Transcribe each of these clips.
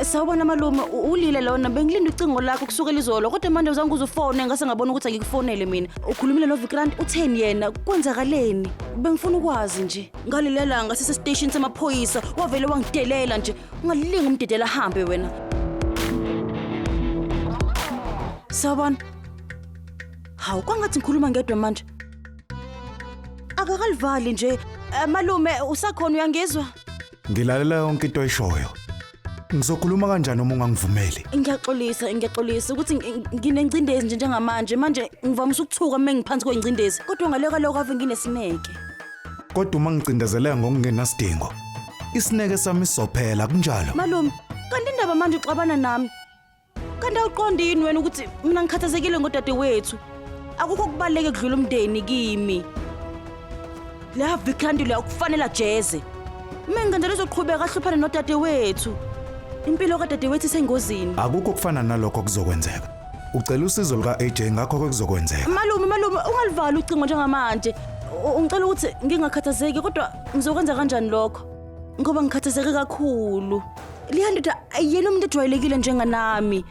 Eh, Sawubona malume, u- ulile lona bengilinde ucingo lakho kusukela izolo kodwa manje uzange uzufone ngase ngabona ukuthi angikufonele mina. Ukhulumile no Vikrant utheni yena? Kwenzakaleni? Bengifuna ukwazi nje. Ngalilelanga sisestation samaphoyisa wavele wangidelela nje ungalinga umdidela ahambe wena sawubona hawu kwangathi ngikhuluma ngedwa manje akakalivali nje Eh, malume usakhona uyangizwa Ngilalela yonke into oyishoyo. Ngizokhuluma kanjani uma ungangivumeli? ngiyaxolisa ngiyaxolisa ukuthi ngi- ngi- nginengcindezi nje njengamanje manje ngivamise ukuthuka uma ngiphansi kwengcindezi kodwa ngaleka lokho ave nginesineke Kodwa uma ngicindezeleka ngokungenasidingo, isineke sami sizophela kunjalo. Malume, kanti indaba manje uxabana nami. Kanti awuqondi yini wena ukuthi mina ngikhathazekile ngodade wethu? Akukho kubaluleke kudlula umndeni kimi. La Vikranti la ukufanela jeze. Uma ngikanjalo uzoqhubeka ahluphane nodade wethu. Impilo kadade wethu isengozini. Akukho kufana nalokho kuzokwenzeka. Ucela usizo luka AJ ngakho ke kuzokwenzeka. Malume malume ungalivali ucingo njengamanje. U- Ngicela ukuthi ngingakhathazeki kodwa ngizokwenza kanjani lokho? Ngoba ngikhathazeke kakhulu. Leya ndoda ayiyena umuntu ojwayelekile njenganami.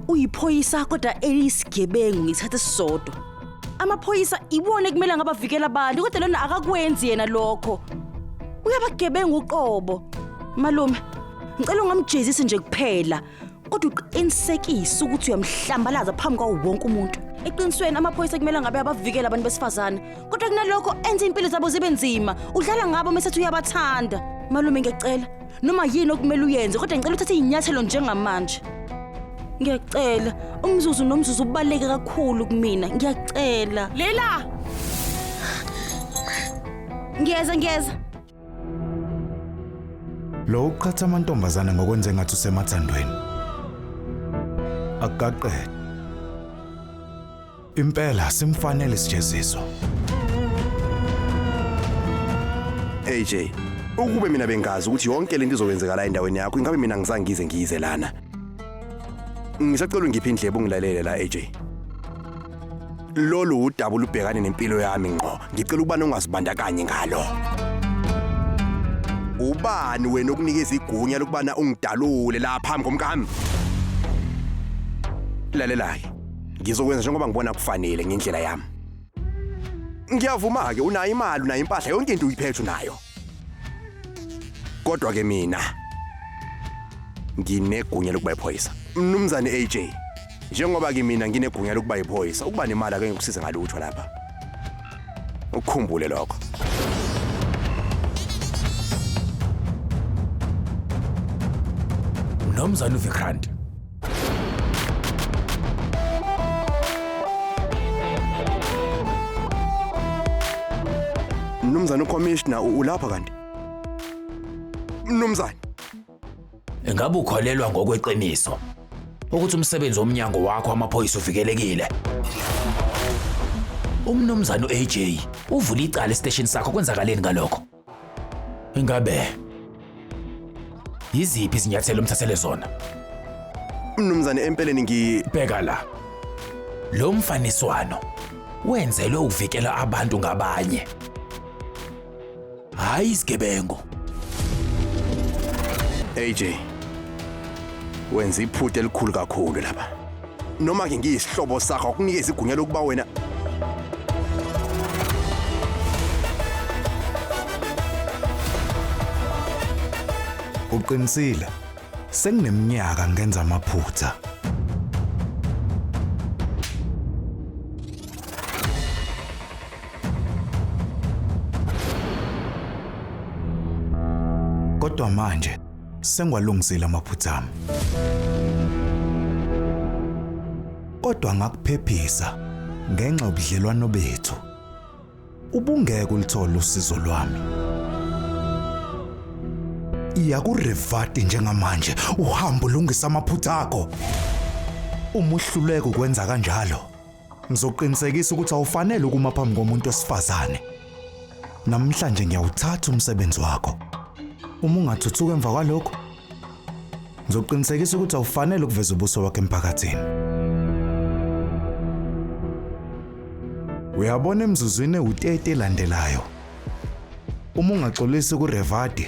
Uyiphoyisa kodwa eliyisigebengu ngithathe sisodwa. Amaphoyisa iwona ekumele ngabavikela abantu kodwa lona akakwenzi yena lokho. Uyabagebengu uqobo. Malume ngicela ungamjezisi nje kuphela. kodwa uqinisekise ukuthi uyamhlambalaza phambi kwawo wonke umuntu eqinisweni amaphoyisa kumele ngabe abavikela abantu besifazane kodwa kunalokho enza impilo zabo zibe nzima udlala ngabo mesethi uyabathanda malume ngiyacela noma yini okumele uyenze kodwa ngicela uthathe iy'nyathelo njengamanje ngiyacela umzuzu nomzuzu ubaluleke kakhulu kumina ngiyacela lela ngiyeza ngiyeza Lo uqhatha amantombazane ngokwenza engathi usemathandweni. Akaqede. Impela simfanele isijeziso. AJ, ukube mina bengazi ukuthi yonke lento izokwenzeka la endaweni yakho, ingabe mina ngisangize ngize lana. Ngisacela ungiphe indlebe ungilalele la AJ. Lolu udaba olubhekane nempilo yami ngqo. Ngicela ukuba nongazibandakanye ngalo. Ubani wena okunikeza igunya lokubana ungidalule la phambi komkami? Lalelake. Ngizokwenza njengoba ngibona kufanele ngendlela yami. Ngiyavuma-ke unayo imali unayo impahla yonke into uyiphethe unayo. Kodwa-ke mina nginegunya lokuba iphoyisa. Mnumzane AJ, Njengoba kimina nginegunya lokuba yiphoyisa, ukuba nemali akenge kusiza ngalutho lapha. Ukukhumbule lokho. Nomzana uVikrant Mnumzane uCommissioner ulapha kanti? Mnumzane Ingabe ukholelwa ngokweqiniso ukuthi umsebenzi womnyango wakho wamaphoyisa uvikelekile? Umnumzane u-AJ uvule icala esiteshini sakho kwenzakaleni ngalokho? Ingabe yiziphi izinyathelo omthathele zona? Mnumzane empeleni ngi Bheka la. Lo mfaniswano wenzelwe ukuvikela abantu ngabanye. hhayi isigebengu. AJ, wenza iphutha elikhulu kakhulu lapha. Noma ke ngiyisihlobo sakho akunikeza igunya lokuba wena Uqinisile. Sengineminyaka ngenza amaphutha. Kodwa manje sengwalungisile amaphutha ami. Kodwa ngakuphephisa ngenxa yobudlelwano bethu. Ubungeke ulithole usizo lwami. Iya kurevati njengamanje uhambo lungisa amaphutha akho. Umuhluleke ukwenza kanjalo. Ngizoqinisekisa ukuthi awufanele ukuma phambi komuntu osifazane. Namhlanje ngiyawuthatha umsebenzi wakho. Uma ungathuthuka emva kwalokho, ngizoqinisekisa ukuthi awufanele ukuveza ubuso wakho emphakathini. Uyabona emzuzwini ewu-30 elandelayo. Uma ungaxolisi kuRevadi,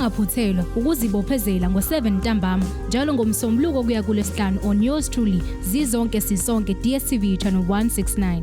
ungaphuthelwa ukuzibophezela ngo-7 ntambama njalo ngomsombuluko kuya kulesihlanu on yours truly zizonke sisonke dstv channel 169